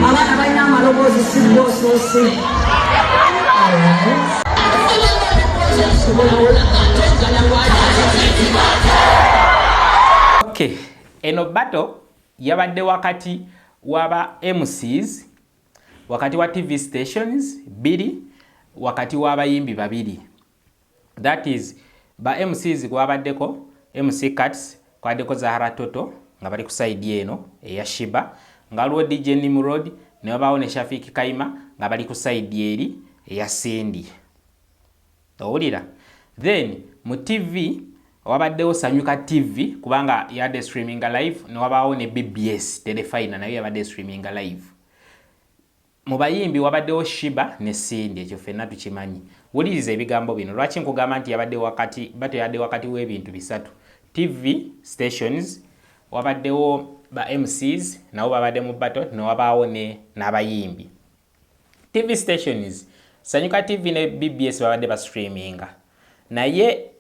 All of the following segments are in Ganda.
Abaana balina amaloboozi si boosoose. Okay. Eno battle yabadde wakati waba MCs wakati wa TV stations biri wakati w'abayimbi babiri that is ba mcs gwabaddeko mc cats kwaddeko zahara toto nga bali ku saidi eno eya shiba nga waliwo dj nimrod ne wabaawo ne shafiki kaima nga bali ku saidi eri eya sindi owulira then mu tv wabaddewo sanyuka tv kubanga yabadde streaminga live newabaawo ne bbs telefina nayo yabadde streaminga live Mu bayimbi wabaddewo Sheebah ne Cindy ekyo ffenna tukimanyi. Wuliriza ebigambo bino, lwaki nkugamba nti yabadde wakati, Bato yabadde wakati w'ebintu bisatu, Ttivvi, stations, wabaddewo ba MCs nabo babadde mu Bato ne wabaawo ne n'abayimbi. Ttivvi stations, Sanyuka Ttivvi ne BBS babadde ba streaminga naye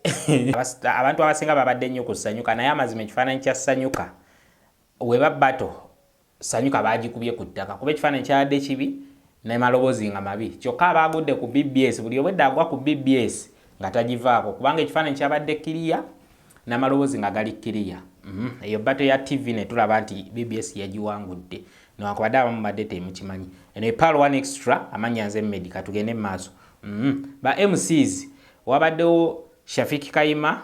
abantu abasinga babadde nnyo ku Sanyuka naye amazima ekifaananyi kya Sanyuka weba Bato Sanyuka baagikubye ku ttaka kuba ekifaananyi kyabadde kibi n'amaloboozi nga mabi kyokka abaagudde ku BBS buli obwedda agwa ku BBS nga tagivaako kubanga ekifaananyi kyabadde kiriya n'amaloboozi nga gali kiriya. Mm-hmm. Eyo battle ya TV ne tulaba nti BBS yagiwangudde newankubadde abamu badde temukimanyi. Eno ye Pearl One Extra amannya nze Medi katugende mu maaso. Mm-hmm. Ba MCs wabaddewo Shafik Kayima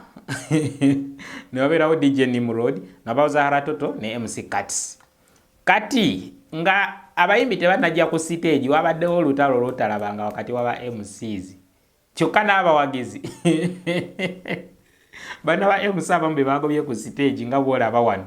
ne wabeerawo DJ Nimrod nga bawo Zahara Toto ne MC Kats. Kati nga abayimbi tebanajja ku siteegi wabaddewo olutalo olwotalabanga wakati waba MCs kyokka n'abawagizi bana ba MC abamu be bagobye ku siteegi nga bwolaba wano.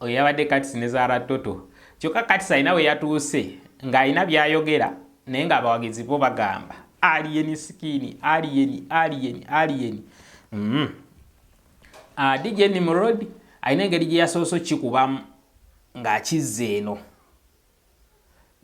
Oyo yabadde Kats ne Zara Toto. Kyokka Kats alina we yatuuse ng'alina by'ayogera naye ng'abawagizi bo bagamba aliyeni sikiini, aliyeni, aliyeni, aliyeni. Mm. Uh, DJ Nimrod alina engeri gye yasoose okukikubamu ng'akizza eno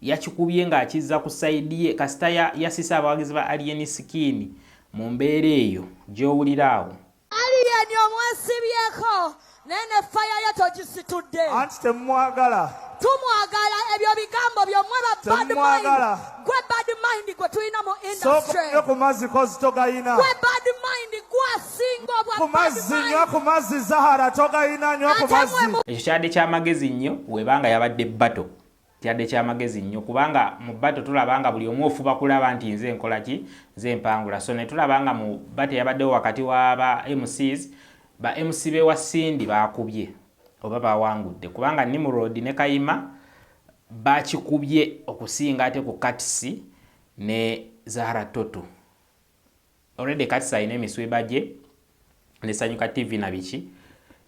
yakikubye ng'akizza ku sayidi ye kasita yasise abawagizi ba aliyeni sikiini mu mbeera eyo gy'owulira awo aliyeni omwesibyeko naye ne faya ye togisitudde anti temwagala tumwagala ebyo bigambo byomwe babadmwagala gwe bad mind gwe tulina mu industryyo ku mazzi kozi togayina gwe bad mind gwasinga obwakumazzi nywa ku mazzi zahara togayina nywa ku mazzi ekyo kyadde kyamagezi nnyo webanga yabadde bato Kyadde kya magezi nnyo kubanga mu battle tulaba nga buli omu ofuba kulaba nti nze nkola ki? Nze mpangula. So netulaba nga mu battle eyabaddewo wakati wa ba MCs, ba MC b'ewa Cindy baakubye oba baawangudde kubanga Nimrod ne Kayima baakikubye okusinga ate ku Kats ne Zahra Toto. already katisa alina emiswiba gye nesanyuka tv na biki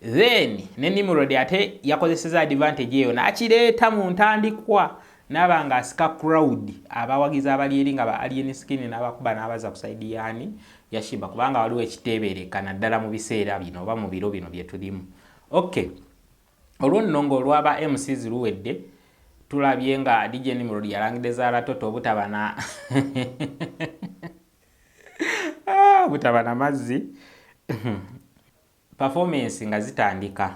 then ne nimrod ate yakozeseza advantage eyo nakireeta mu ntandikwa naba nga asika crowd abawagizi abali eri nga ba alien skin nabakuba nabaza ku saidi yani yashiba kubanga waliwo ekiteebereka naddala mu biseera bino oba mu biro bino byetulimu okay olwo nno ng'olwa ba mcs luwedde tulabye nga dj nimrod yalangidde zaalatoto obutaba na Ah, butaba na mazzi performance nga zitandika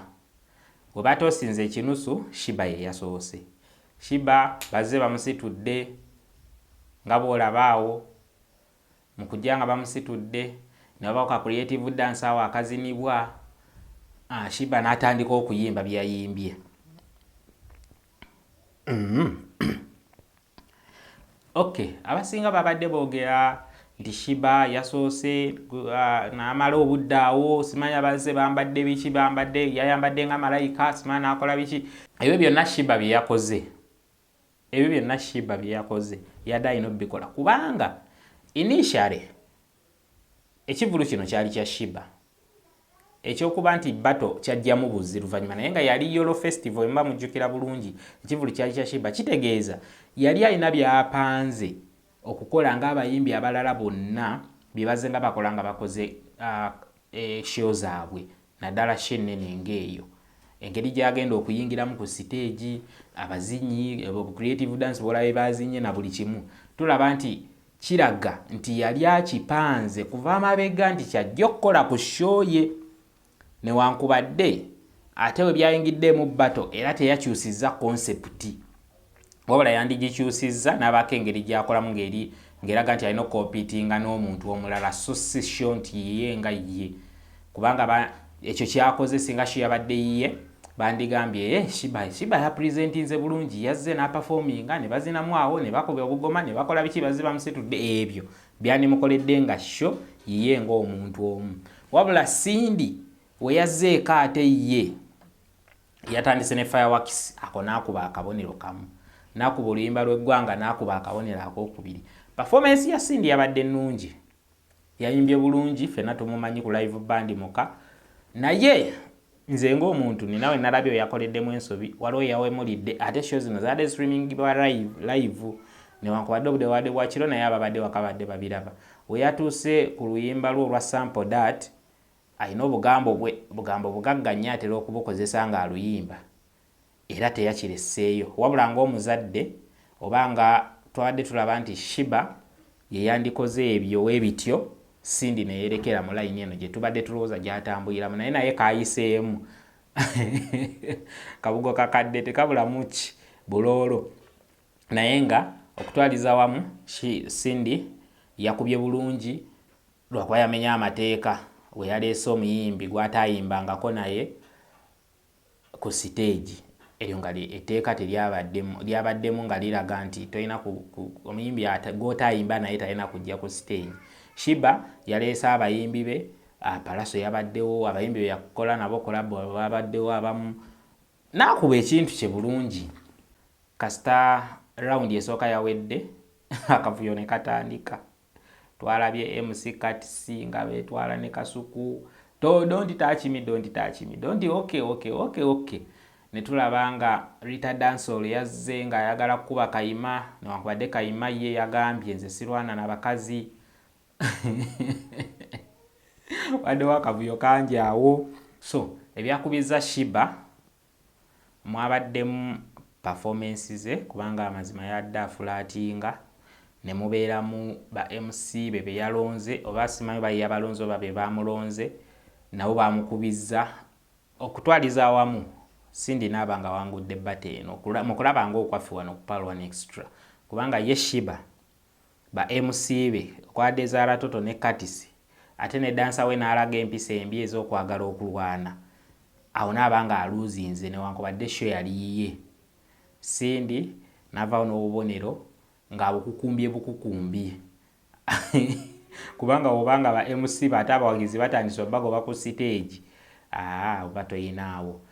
oba tosinze ekinusu shiba ye yasoose shiba bazze bamusitudde nga bw'olaba awo mu kujja nga bamusitudde ne babawo ka creative dance awo akazinibwa ah, shiba n'atandika okuyimba bye yayimbye mm-hmm. Ok abasinga babadde bogera nti shiba yasoose uh, namala obudde awo simanya bazze bambadde biki bambadde yayambadde nga malayika simanya nakola biki ebyo byonna shiba byeyakoze ebyo byonna shiba byeyakoze yadde alina obikola kubanga initially Ekivvulu kino kyali kya Shiba. Eky'okuba nti Bato kyajjamu buzzi luvannyuma naye nga yali Yolo Festival emba mujjukira bulungi, ekivvulu kyali kya Shiba kitegeeza yali alina by'apanze okukola ng'abayimbi abalala bonna bye bazzenga bakola nga bakoze show zaabwe. naddala show ennene ng'eyo engeri gyagenda okuyingiramu ku siteegi abazinyi creative dance bolabe bazinye na buli kimu tulaba nti kiraga nti yali akipanze kuva amabega nti kyajja okukola ku show ye newankubadde ate we byayingiddeemu bato era teyakyusizza konsepti wabula yandigikyusizza n'abaako engeri gy'akolamu ng'eri ng'eraga nti alina okukompiitinga n'omuntu omulala so si sho nti yiye nga ye kubanga ekyo kyakoze singa sho yabadde yiye bandigambye e eh, shiba shiba yapurezentinze bulungi yazze n'apafominga ne bazinamu awo ne bakuba obugoma ne bakola biki bazze bamusitudde ebyo byandimukoledde nga sho yiye ng'omuntu omu wabula sindi we yazzeeko ate ye yatandise ne fireworks ako nakuba akabonero kamu nakuba oluyimba lweggwanga nakuba akabonero akokubiri performance ya sindi yabadde nungi yayimbye bulungi fena tumumanyi ku live band muka naye nze ngaomuntu ninawe nalabye oyakoleddemu ensobi waliwo yawemulidde ate sho zino zaadde streamingibwa live newankubadde obude wade bwakiro naye ababadde wakabadde babiraba weyatuuse ku luyimba lwo olwa sample dat Alina obugambo bwe bugambo bugagga nnyo atera okubukozesa ng'aluyimba era teyakiresseeyo wabula ng'omuzadde oba nga twabadde tulaba nti Shiba ye yandikoze ebyo we bityo Cindy ne yeerekera mu layini eno gye tubadde tulowooza gy'atambuliramu naye naye kaayiseemu kabugo kakadde tekabulamu ki buloolo naye nga okutwaliza wamu Cindy yakubye bulungi Lwakuba yamenye amateeka bwe yaleese omuyimbi gw'ataayimbangako naye ku siteegi. Eryo nga etteeka teryabaddemu, lyabaddemu nga liraga nti tolina ku, ku, omuyimbi gw'otaayimba naye talina kujja ku siteegi. Sheebah yaleese abayimbi be, ah, Pallaso yabaddewo, abayimbi be yakola nabo kolabo babaddewo abamu, n'akuba ekintu kye bulungi. Kasita rawundi esooka yawedde, akavuyo ne katandika. twalabye mc cats nga betwala ne kasuku to don't touch me don't touch me don't okay okay okay okay netulaba nga rita dansol yazze nga ayagala kukuba kayima newankubadde kayima ye yagambye nze sirwana na bakazi waddewo akavuyo kangi awo so ebyakubizza shiba Mwabaddemu performance ze kubanga amazima yabadde afulaatinga ne mubeeramu ba MC be be yalonze oba simanyi oba ye yabalonze oba be baamulonze nabo baamukubizza. Okutwaliza awamu Cindy n'aba ng'awangudde bata eno mu kulaba ng'okwaffe wano ku Pearl One Extra kubanga ye Sheebah Ba MC be okwa Desire Toto ne Curtis ate ne dancer we n'alaga empisa embi ez'okwagala okulwana awo n'aba nga aluuzinze newankubadde show yali yiye. Cindy n'avaawo n'obubonero nga abukukumbye bukukumbi kubanga bw'oba nga ba MC be ate abawagizi batandise obagoba ku siteegi, aah oba toyinaawo.